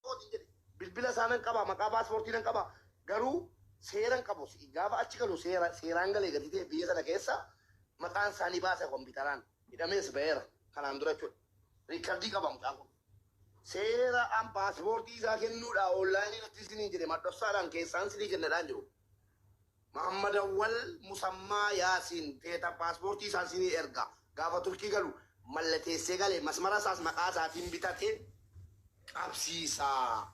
kooti jedhe bilbila isaa nan qaba maqaa paaspoortii nan qaba garuu seeran qabu gaafa achi galu seera seeraan galee gadi ta'e biyya sana keessa maqaan isaanii baasa kompiitaraan hidhamees ba'eera kanaan dura jechuudha riikardii qaba mucaan kun Seera an paaspoortii isaa kennuu dha online irratti isiniin jedhe madhofsaa dhaan keessaan sinii kenna dhaan jiru Mahammadawwal Musammaa Yaasiin teeta paaspoortii isaa sinii erga gaafa Turkii galu mallateessee gale masmara isaas maqaa isaatiin bitate qabsiisaa.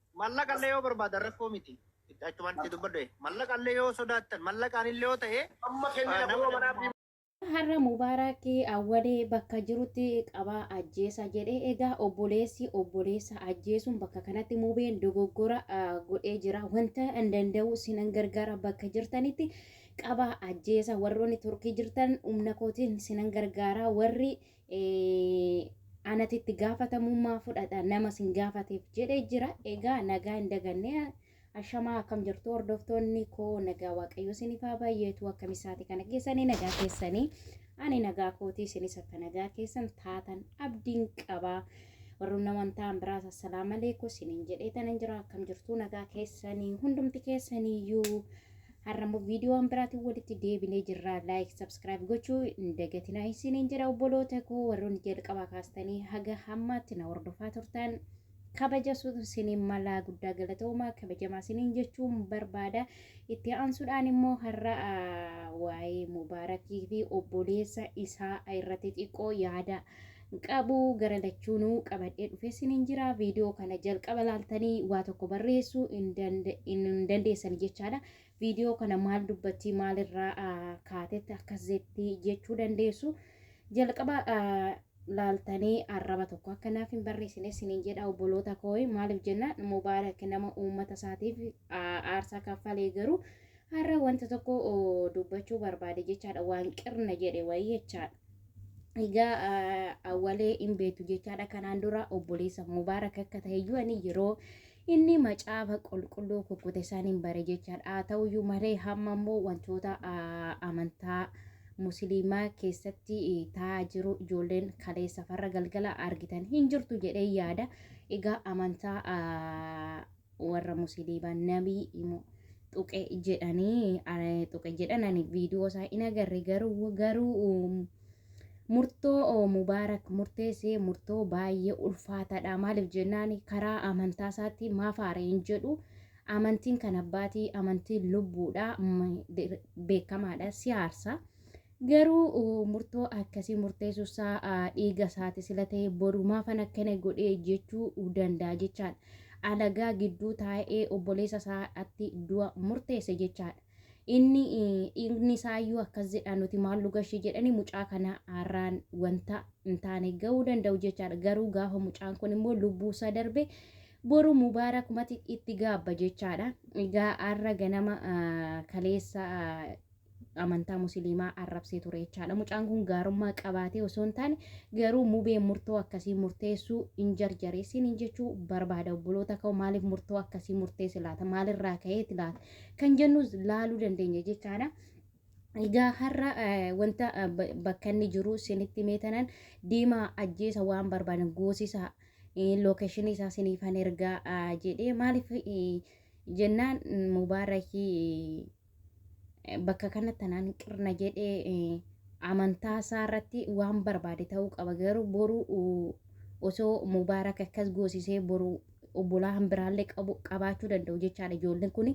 Mallaqa illee yoo barbaadan rakkoo miti. Itti achumaan itti dubbadhu. Mallaqa illee yoo sodaattan mallaqaan illee yoo ta'e Amma kennina nama kunoo manaa fi Har'a Mubaaraak Awwalee bakka jirutti qabaa ajjeesa jedhe. Egaa obboleessi obboleessa ajjeesuun bakka kanatti Mubeen dogoggora godhee jira. Wanta an danda'u sinan gargaara bakka jirtanitti qabaa ajjeesa. Warroonni Turkii jirtan humna kootiin sinan gargaara. Warri anatu itti gaafatamummaa fudhata nama sin gaafateef jedhee jira. Egaa nagaa hin daganne ashamaa akkam jirtu hordoftoonni koo nagaa waaqayyoo isiniif haa baay'eetu akkam isaati kana keessanii nagaa keessanii ani nagaa kootii isinis akka nagaa keessan taatan abdiin qaba. Warroon naman ta'an biraas assalaamu alaikum isiniin jedhee tanan jira akkam jirtu nagaa keessanii hundumti keessaniyyuu. Har'a immoo viidiyoo waan biraatiin walitti deebinee jirra. Laayik, sabskiraayib gochuu hin dagatinaa isiniin jedha obboloota koo warroonni jalqabaa kaastanii haga hammaatti na hordofaa turtan. Kabaja suutu isiniin malaa guddaa galatoomaa kabajamaa isiniin jechuun barbaada. Itti aansuudhaan immoo har'a ah, waa'ee Mubaarakii fi obboleessa isaa irratti xiqqoo yaada qabu gara lachuunuu qabadhee dhufee sinin jira viidiyoo kana jalqaba laaltanii waa tokko barreessuu hin danda- hin- hin dandeessani jechaadha viidiyoo kana maal dubbatti maalirraa ah, kaatetti akkas jetti jechuu dandeessu jalqaba ah, laaltanii arraba tokko akka naaf hin barreessine sinin jedha obboloota kooyi maaliif jennaan mubaarak nama uummata isaatiif ah, aarsaa kaffalee garuu har'a wanta tokko oh, dubbachuu barbaade jechaadha waan qirna jedhe wayii jechaadha Egaa awwalee hin beektu jechaadha kanaan dura obboleessa mubaarak akka ta'e iyyuu ani yeroo inni macaafa qulqulluu kukkute isaan hin bare jechaadha haa ta'u iyyuu malee hamma immoo wantoota amantaa musliimaa keessatti taa'aa jiru ijoolleen kaleessa farra galgala argitan hin jirtu jedhee yaada egaa amantaa warra musiliiba nabii imo tuqe jedhanii tuqe jedhan ani viidiyoo isaa in agarre garuu garuu murtoo mubaarak murteessee murtoo baay'ee ulfaataadha maaliif jennaan karaa amantaa isaatti maaf haare hin jedhu amantiin kan abbaatii amantiin lubbuudha beekamaadha siyaarsa. Garuu murtoo akkasii murteessuunsaa dhiiga isaati sila ta'e boru maafan akkana godhe jechuu danda'a jechaadha. Alagaa gidduu taa'ee obboleessa isaatti du'a murteesse jechaadha. Inni dhiigni isaayyuu akkas jedha nuti maal nu gashi jedhanii mucaa kana har'aan wanta hin taane ga'uu danda'u jechaadha. Garuu gaafa mucaan kun immoo lubbuu isaa darbe boru mubaarakumatti itti gaabba jechaadha. Egaa har'a ganama kaleessa amantaa musiliimaa arrabsee ture jechaadha. Mucaan kun gaarummaa qabaatee osoo hin taane garuu mubee murtoo akkasii murteessuu hin jarjareessin hin jechuu barbaada obboloota ka'u maaliif murtoo akkasii murteesse laata maalirraa ka'eeti laata kan jennus laaluu dandeenya jechaadha. Egaa har'a wanta bakka inni jiru sinitti meetanan deemaa ajjeesa waan barbaadan goosisaa lookeeshinii isaa siniifan ergaa jedhee maaliif jennaan mubaarakii bakka kanatti anaan qirna jedhee eh, amantaa isaa irratti waan barbaade ta'uu qaba garuu boru uh, osoo mubaarak akkas goosisee boru obbolaan biraallee qabu qabaachuu danda'u jechaadha ijoolleen kun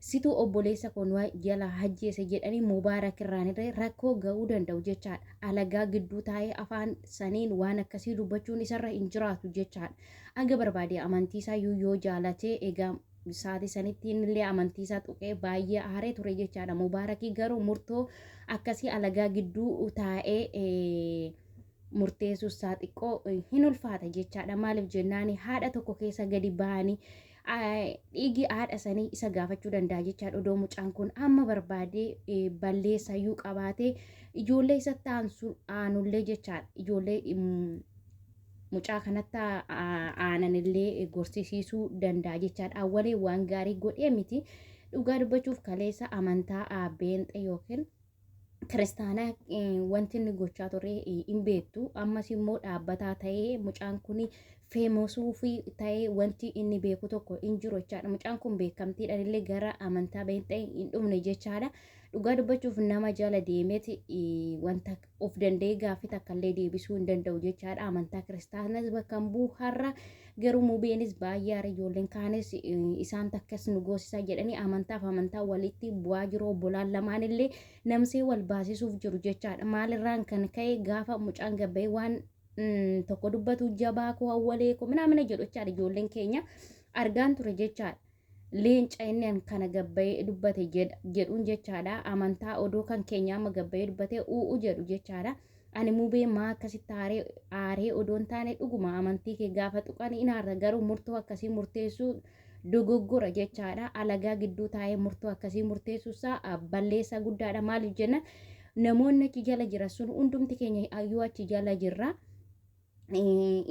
situu obboleessa kun waa jalaa hajjeese jedhanii mubaarak irraanillee rakkoo ga'uu danda'u jechaadha alagaa gidduu taa'ee afaan saniin waan akkasii dubbachuun isarra hin jiraatu jechaadha aga barbaade amantii isaa yoo jaalatee egaa Saatii sanitti innillee amantii isaa tuqee baay'ee aaree ture jechaadha. Mubaarakii garuu murtoo akkasii alagaa gidduu taa'ee murteessuus isaa xiqqoo hin ulfaata jechaadha. Maaliif jennaan haadha tokko keessa gadi ba'anii dhiigi haadha sanii isa gaafachuu danda'a jechaadha. Odoo mucaan kun amma barbaadee balleessaa iyyuu qabaatee ijoollee isatti aanullee jechaadha. Ijoollee mucaa kanatti aanan illee gorsisiisuu danda'a jechaadha. Awwalee waan gaarii godhee miti. Dhugaa dubbachuuf kaleessa amantaa beenxe yookiin kiristaanaa wanti inni gochaa ture hin beektu. Ammas immoo dhaabbataa ta'ee mucaan kun feemosuu fi ta'ee wanti inni beeku tokko hin jiru jechaadha. Mucaan kun beekamtiidhaan illee gara amantaa beenxe hin dhumne jechaadha. Dhugaa dubbachuuf nama jala deemeeti wanta of danda'ee gaaffii takka illee deebisuu hin danda'u jechaadha amantaa kiristaanas bakka hin bu'u har'a garuu mubeenis baay'ee aara ijoolleen kaanis eh, isaan takkas nu goosisaa jedhanii amantaaf amantaa walitti bu'aa jiru obbolaan lamaan illee namsee wal baasisuuf jiru jechaadha maalirraan kan ka'e gaafa mucaan gabba'ee waan mm, tokko dubbatu jabaa koo awwalee koo minaamina jedhu jechaadha ijoolleen keenya argaan ture jechaadha. leenca inni an kana gabbayee dubbate jedha jedhuun jechaadha amantaa odoo kan keenya amma gabbayee dubbate u'u jedhu jechaadha ani mubee maa akkasitti aaree aaree odoon taane dhuguma amantii kee gaafa tuqan in aarra garuu murtoo akkasii murteessuu dogoggora jechaadha alagaa gidduu taa'ee murtoo akkasii murteessuu isaa ah, balleessaa guddaadha maaliif jenna namoonni achi jala jiran sun hundumti keenya yoo achi jala jirra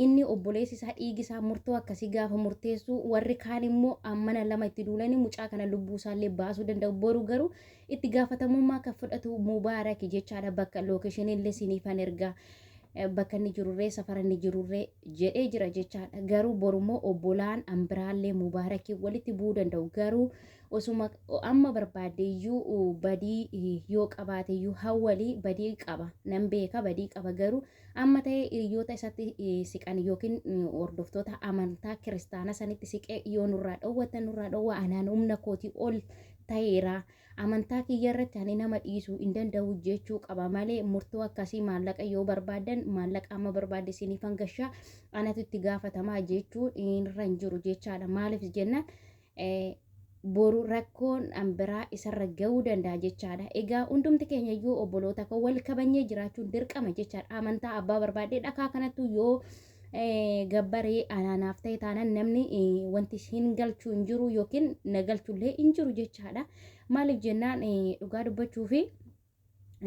inni obboleessi isaa dhiigi isaa murtoo akkasii gaafa murteessu warri kaan immoo ammana lama itti duulanii mucaa kana lubbuu isaallee baasuu danda'u boru garuu itti gaafatamummaa kan fudhatu mubaaraki jechaadha bakka lookeshiniillee siniifan ergaa bakka inni jirurree safara inni jirurree jedhee jira jechaadha garuu borummoo obbolaan ambiraallee mubaarakii walitti bu'uu danda'u garuu osuma amma barbaadeeyyuu badii yoo qabaateeyyuu hawwalii badii qaba nan beeka badii qaba garuu Amma ta'ee hiriyoota isatti siqan yookiin hordoftoota amantaa kiristaana sanitti siqee yoo nurraa dhowwatan nurraa dhowwa anaan humna kooti ol ta'eera amantaa kiyya irratti ani nama dhiisu hin danda'u jechuu qaba malee murtoo akkasii maallaqa yoo barbaadan maallaqa amma barbaade isiniif hangashaa anatu itti gaafatamaa jechuun irra hin jiru jechaadha maaliif jennaan boru rakkoon an biraa isarra ga'uu danda'a jechaadha. Egaa hundumti keenya iyyuu obboloota koo wal kabanyee jiraachuun dirqama jechaadha. Amantaa abbaa barbaadee dhakaa kanattu yoo gabbaree anaanaaf ta'e taanaan namni wanti hin galchu hin jiru yookiin na galchullee hin jiru jechaadha. Maaliif jennaan dhugaa dubbachuufi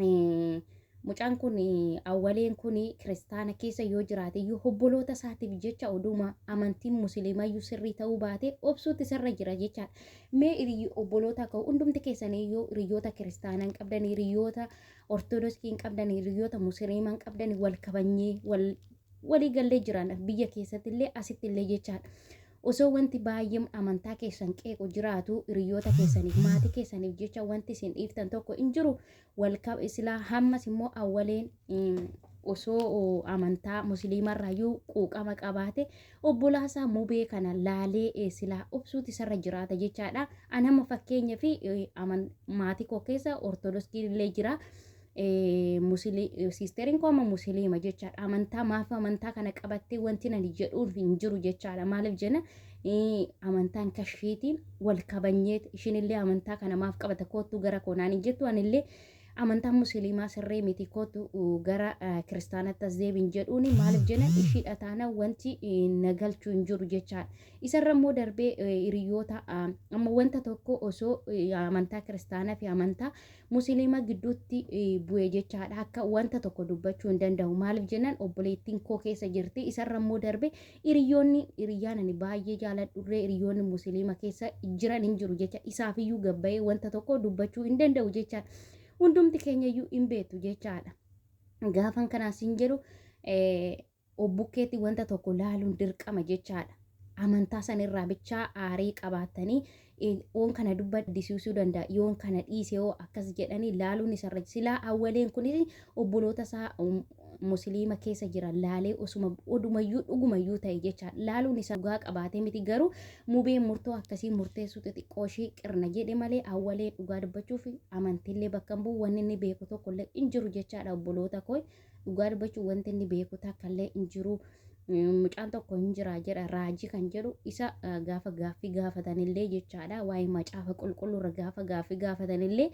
Eh, mucaan kun eh, awwaleen kun kiristaana keessa yoo jiraate iyyuu obboloota isaatiif jecha oduma amantiin musliimaa iyyuu sirrii ta'uu baate obsuutti isarra jira jechaadha. Mee hiriy- obboloota ka'u hundumti keessanii iyyuu hiriyoota kiristaanaa hin qabdan hiriyoota ortodoksii hin qabdan hiriyoota musliimaa hin qabdan wal kabanyee wal walii gallee jiraanna biyya keessatti illee asitti illee jechaadha. Osoo wanti baay'een amantaa keessan qeequ jiraatuu, hiriyyoota keessaniif, maatii keessaniif jecha wanti isin dhiiftan tokko hin jiru. Wal kab- silaa hammas immoo awwaleen mm, osoo oo, amantaa musliimarraayyuu quuqama qabaate obbolaasaa mubee kana laalee eh, silaa obsuuti isarra jiraata jechaadha. An amma fakkeenya fi eh, aman- maatii koo keessa ortodoskiin illee jira. Siisteriin koo amma musiliima jechaadha. Amantaa maaf amantaa kana qabattee wanti nani jedhuun hin jiru jechaadha. Maaliif jenna amantaan kashiiti wal kabanyee ishinillee amantaa kana maaf qabata koottuu gara koo naan hin jettu anillee amantaan musiliimaa sirrii miti koottu gara kiristaanatti as deebiin jedhuuni maaliif jenna ishiidha taana wanti na galchuu hin jiru jechaadha. Isarra immoo darbee hiriyoota amma wanta tokko osoo amantaa kiristaanaa fi amantaa Musiliima gidduutti bu'e jechaadha. Akka wanta tokko dubbachuu hin danda'u. Maaliif jennaan obboleettiin koo keessa jirti. Isarra immoo darbe hiriyoonni hiriyyaan ani baay'ee jaaladhurree hiriyoonni musiliima keessa jiran hin jiru jecha isaafiyyuu gabbayee wanta tokko dubbachuu hin danda'u jechaadha. Hundumti keenyayyuu hin beektu jechaadha. Gaafan kanaas hin jedhu of bukkeetti wanta tokko laaluun dirqama jechaadha. Amantaa san irraa bichaa aarii qabaattanii eh, oon kana dubbadisiisuu danda'a yoon kana dhiise yoo akkas jedhanii laaluun isarra silaa awwaleen kunis obboloota isaa um, musliima keessa jiran laalee osuma odumayyuu dhugumayyuu ta'e jecha laaluun isaa dhugaa qabaatee miti garuu mubeen murtoo akkasii murteessuu xixiqqoo ishii qirna jedhe malee awwalee dhugaa dubbachuuf amantiillee bakka hin bu'u wanni inni beeku tokkollee hin jiru jechaadha obboloota koo Dhugaa dubbachuuf wanti inni beeku takka illee hin jiru. Mucaan tokko hin jira jedha raajii kan jedhu isa gaafa gaaffii gaafatanillee jechaadha waa'ee macaafa qulqulluurra gaafa gaaffii gaafatanillee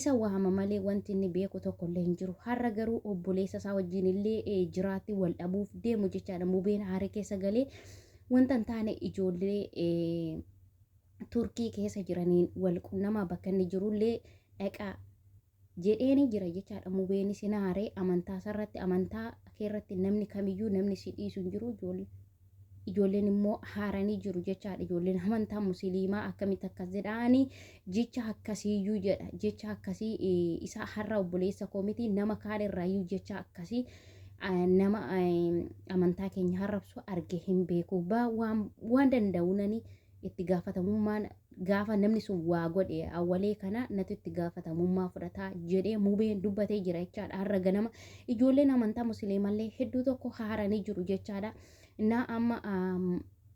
isa waama malee wanti inni beeku tokko illee hin jiru. Har'a garuu obboleessa isaa wajjin illee jiraatti wal dhabuuf deemu jechaadha mubeen haaree keessa galee wanta hin taane ijoollee turkii keessa jiraniin wal qunnama bakka inni jirullee dhaqaa jedheenii jira jechaadha mubeeni sina haree amantaa sarratti amantaa keerratti namni kamiyyuu namni si dhiisu hin jiru ijoollee ijoolleen immoo haaranii jiru jechaadha ijoolleen amantaa musiliimaa akkamitti akkas jedhaanii jecha akkasiiyyuu jedha jecha akkasii isaa har'a obboleessa koo miti nama kaan irraayyuu jecha akkasii nama amantaa keenya harrabsu arge hin beeku waan danda'u nani itti gaafatamummaan gaafa namni sun waa godhe awwalee kana natu itti gaafatamummaa fudhataa jedhee mubeen dubbatee jira jechaadha har'a ganama ijoolleen amantaa musliimallee hedduu tokko haaranii jiru jechaadha naa amma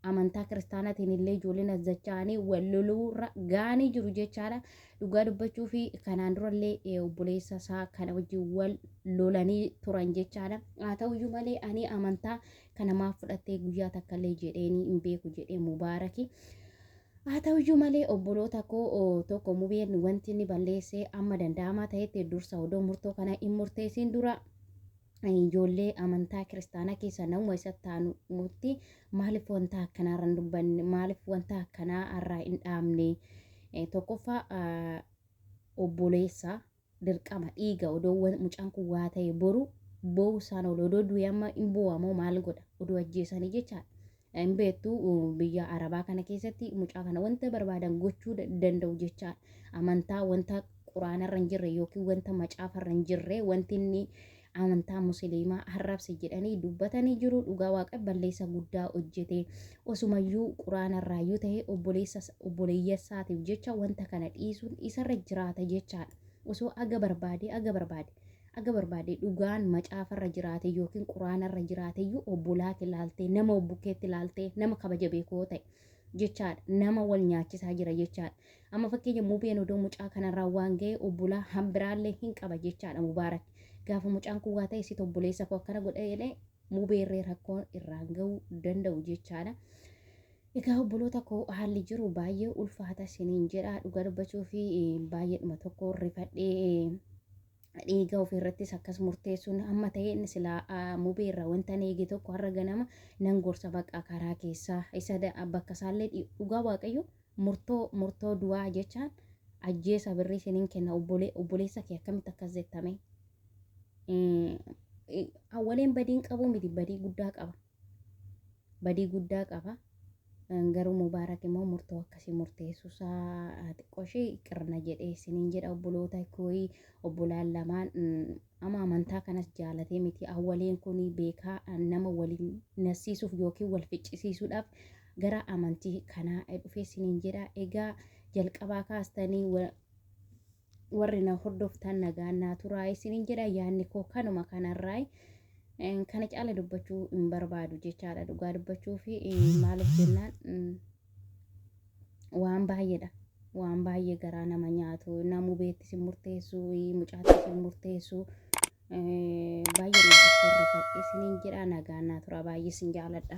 amantaa kiristaanaatiin illee ijoolleen as dacha'anii wal loluurra gaanii jiru jechaadha. Dhugaa dubbachuu fi kanaan durallee eh, obboleessa isaa kana wajjin wal lolanii turan jechaadha. Haa ta'uyyuu malee ani amantaa kana maaf fudhattee guyyaa takkallee jedheenii hin beeku jedhee mubaaraki. Haa ta'uyyuu malee obboloota koo tokko mubeen wanti inni balleessee amma danda'amaa ta'etti dursa odoo murtoo kana hin murteessiin dura ijoollee amantaa kiristaanaa keessa namuma isa taanutti maaliif wanta akkanaa irra hin dubbanne maaliif wanta akkanaa irraa hin dhaabne tokkoffaa obboleessa dirqama dhiiga odoo wa mucaan kun waa ta'e boru boo'u isaan oolu odoo du'e amma hin boo'a moo maal godha odoo ajjeesanii jechaadha. Hin beektu biyya arabaa kana keessatti mucaa kana wanta barbaadan gochuu da- danda'u jechaadha. Amantaa wanta quraanarra hin jirre yookiin wanta macaafarra hin jirre wanti inni amantaa musiliimaa harrabse jedhanii dubbatanii jiru dhugaa waaqa balleessa guddaa hojjete osumayyuu quraanarraayyuu ta'e obboleeyyasaatiif jecha wanta kana dhiisuun isarra jiraata jechaadha osoo aga barbaade aga barbaade aga barbaade dhugaan macaafarra jiraate yookiin quraanarra jiraateyyuu obbolaa kee laaltee nama obbukeetti laaltee nama kabaja beekoo ta'e jechaadha. Nama wal nyaachisaa jira jechaadha. Amma fakkeenya mubeen odoo mucaa kanarraa waan ga'e obbolaa hambiraallee hin qaba jechaadha mubaarak. Gaafa mucaan kun waa ta'e sit obboleessa koo akkana godha jedhee mubeerree rakkoon irraan ga'uu danda'u jechaadha. Egaa obboloota koo haalli jiru baay'ee ulfaata siniin jedha dhuga dubbachuu fi baay'eedhuma tokko rifadhee dhiiga ofiirrattis akkas murteessuun amma ta'e inni silaa ah, mubee irraa wantan eege tokko har'a ganama nan gorsa baqa karaa keessaa isa da- bakka isaallee dhi- dhugaa waaqayyo murtoo murtoo du'aa jechaan ajjeesa birrii isiniin kenna obbole- obboleessa kee akkamitti akkas jettame Eh, eh, awwaleen badiin qabuu miti badii guddaa qaba badii guddaa qaba. Garuu Mubaarak immoo murtoo akkasii murteessuusaa xiqqoo ishee qirna jedhee isiniin jedha obboloota kooyi obbolaan lamaan ama amantaa kanas jaalatee miti awwaleen kun beekaa nama waliin nasiisuuf yookiin wal ficcisiisuudhaaf gara amantii kanaa dhufee isiniin jedha egaa jalqabaa kaastanii warri na hordoftan nagaan naa turaa isinin jedha yaanni koo kanuma kanarraa kana caala dubbachuu hin barbaadu jechaadha dhugaa dubbachuu fi maaliif jennaan waan baay'eedha waan baay'ee garaa nama nyaatu namuu beetti sin murteessu mucaatti sin murteessu baay'ee nama horrifadhe isinin jedha nagaan naa turaa baay'ee sin jaaladha.